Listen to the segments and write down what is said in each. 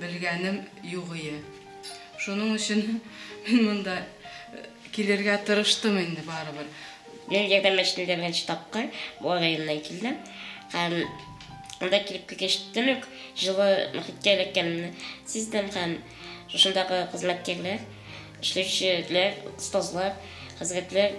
Белгәнем югые. Шуның өчен мин монда килергә тырыштым инде барыбер. Мин Ярдәм мәчетендә беренче тапкыр Буа районыннан килдем. Һәм анда килеп кергәч төн үк җылы мохиткә эләккәнемне сиздем һәм шушындагы хезмәткәрләр, эшләүчеләр, остазлар, хәзрәтләр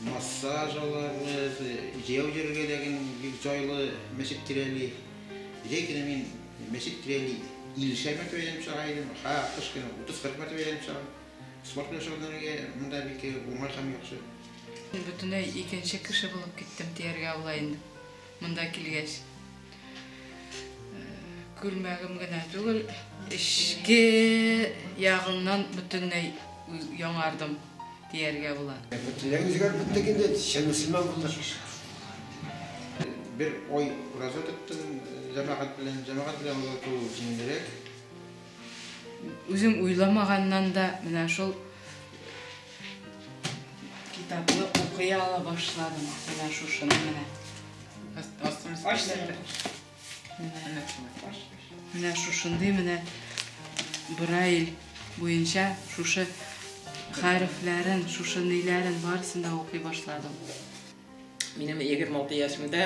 Массаж алабыз, җәяү йөрергә дә гел бик җайлы, мәчет тирәли. Җәй көне мин мәчет тирәли иллешәр мәртәбә әйләнеп чыга идем, ха кыш көне утыз-кырык мәртәбә әйләнеп чыгам. Спорт белән шөгыльләнергә монда бик уңай һәм яхшы. Бөтенләй икенче кеше булып киттем дияргә була инде. Монда килгәч, күлмәгем генә түгел, эчке ягымнан бөтенләй яңардым, дияргә була. Бөтенләй үзгәреп киттек инде, чын мөселман булдык. Бер ай ураза тоттым, җәмәгать белән. Җәмәгать белән ураза тоту җиңелрәк. Үзем уйламаганнан да менә шул Китапны укый ала башладым. Менә шушыны менә. Менә шушындый менә Брайль буенча шушы хәрефләрен, шушы ниләрен барысын да укый башладым. Минем 26 яшемдә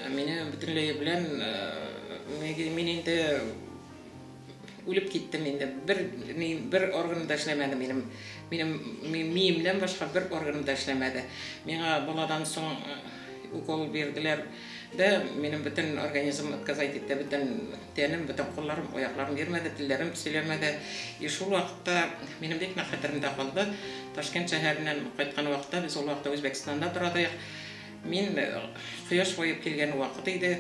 мине бөтенләй белән мин инде үлеп киттем инде. Бер мин бер орган да эшләмәде минем. Минем миемнән башка бер орган да эшләмәде. Миңа баладан соң укол бирделәр. Дә минем бөтен организм отказать итте, бөтен Тәнем, бөтен кулларым, аякларым йөрмәде, телләрем сөйләмәде. И шул вакытта минем бик нык хәтеремдә калды. Ташкент шәһәреннән кайткан вакытта, без ул вакытта Үзбәкстанда торадык. Мин кояш баеп килгән вакыт иде.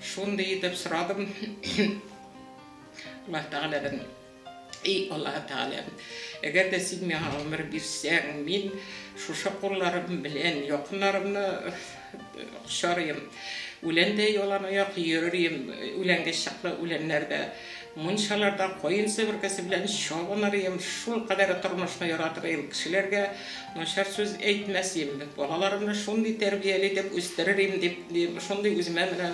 Шундый итеп сорадым Аллаһ Тәгаләдән. Эй Аллаһы Тәгаләм, әгәр дә Син миңа гомер бирсәң, мин шушы кулларым белән якыннарымны кочарыйм. Үләндәй яланаяк йөререм, үләнгә чаклы үләннәрдә, мунчаларда каен себеркесе белән чабынырым, шулкадәр тормышны яратырым, кешеләргә начар сүз әйтмәс идем, балаларымны шундый тәрбияле итеп үстерер идем, дип, шундый үземә менә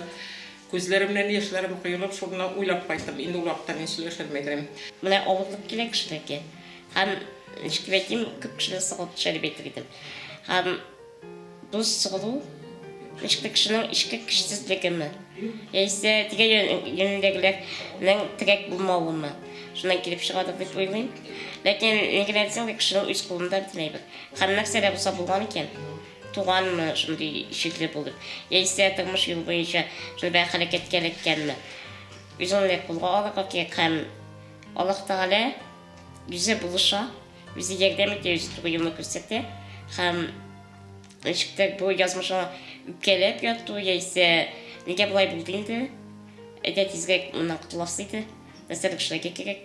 Күзләремнән яшьләрем коелып, шуны уйлап кайттым, инде ул хакта мин сөйләшерме идем. Менә авырлык килә кешеләргә. Һәм, ничек әйтим, күп кешене сыгылып төшә дип әйтер идем. Һәм бу сыгылу, ничек тә кешенең эчке көчсезлегеме, яисә тирә-юнендәгеләрнең терәк булмавымы, шуннан килеп чыгадыр дип уйлыйм. Ләкин ни генә әйтсәң дә, кешенең үз кулында бөтен әйбер. Һәм нәрсә дә булса булган икән. Туганмы шундый җирле булып, яисә тормыш юлы буенча шундый бер хәрәкәткә эләккәнме? Үзе аны кулга алырга кирәк һәм Аллаһ Тәгалә үзе булыша, үзе ярдәм итә, үзе туры юлны күрсәтә һәм ничектер бу язмышыңа үпкәләп яту яисә нигә болай булды инде, әйдә тизрәк моннан котыласы иде, нәрсәдер эшләргә кирәк.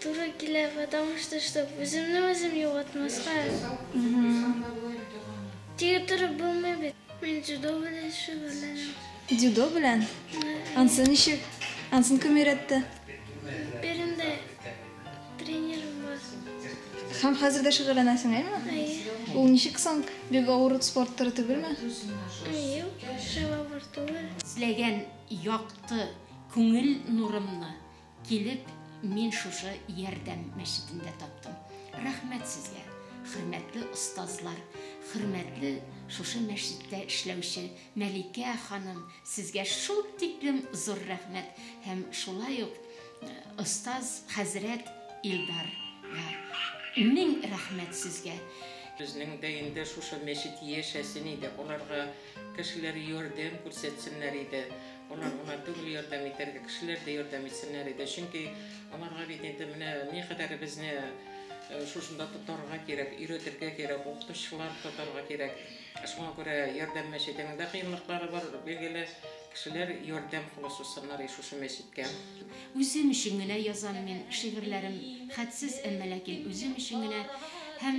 Туры килә, потому что, чтоб үземне үзем югалтмаска. Тик торып булмый бит. Мин дзюдо белән шөгыльләнәм. Дзюдо белән? Ансы ничек? Ансын кем өйрәтте? Биремдә тренерым бар. Һәм хәзер дә шөгыльләнәсең, әйме? Әйе. Ул ничек соң? Бик авыр спорт туры түгелме? Юк, шулай авыр түгел. Эзләгән якты күңел нурымны Килеп мин шушы Ярдәм мәчетендә таптым. Рәхмәт сезгә, хөрмәтле остазлар, хөрмәтле шушы мәчеттә эшләүче Мәликә ханым, сезгә шул тиклем зур рәхмәт һәм шулай ук остаз хәзрәт Илдарга мең рәхмәт сезгә. Безнең дә инде шушы мәчет яшәсен иде, аларга. Кешеләр ярдәм күрсәтсеннәр иде. Алар гына түгел ярдәм итәргә, кешеләр дә ярдәм итсеннәр иде. Чөнки аларга бит инде менә никадәр безне э, шушында тотарга кирәк, өйрәтергә кирәк, укытучылар тотарга кирәк. Шуңа күрә ярдәм мәчетенең дә кыенлыклары бар, билгеле. Кешеләр ярдәм кулы сузсыннар и шушы мәчеткә. Үзем өчен генә язам мин шигырьләрем, хәтсез, әмма ләкин үзем өчен генә һәм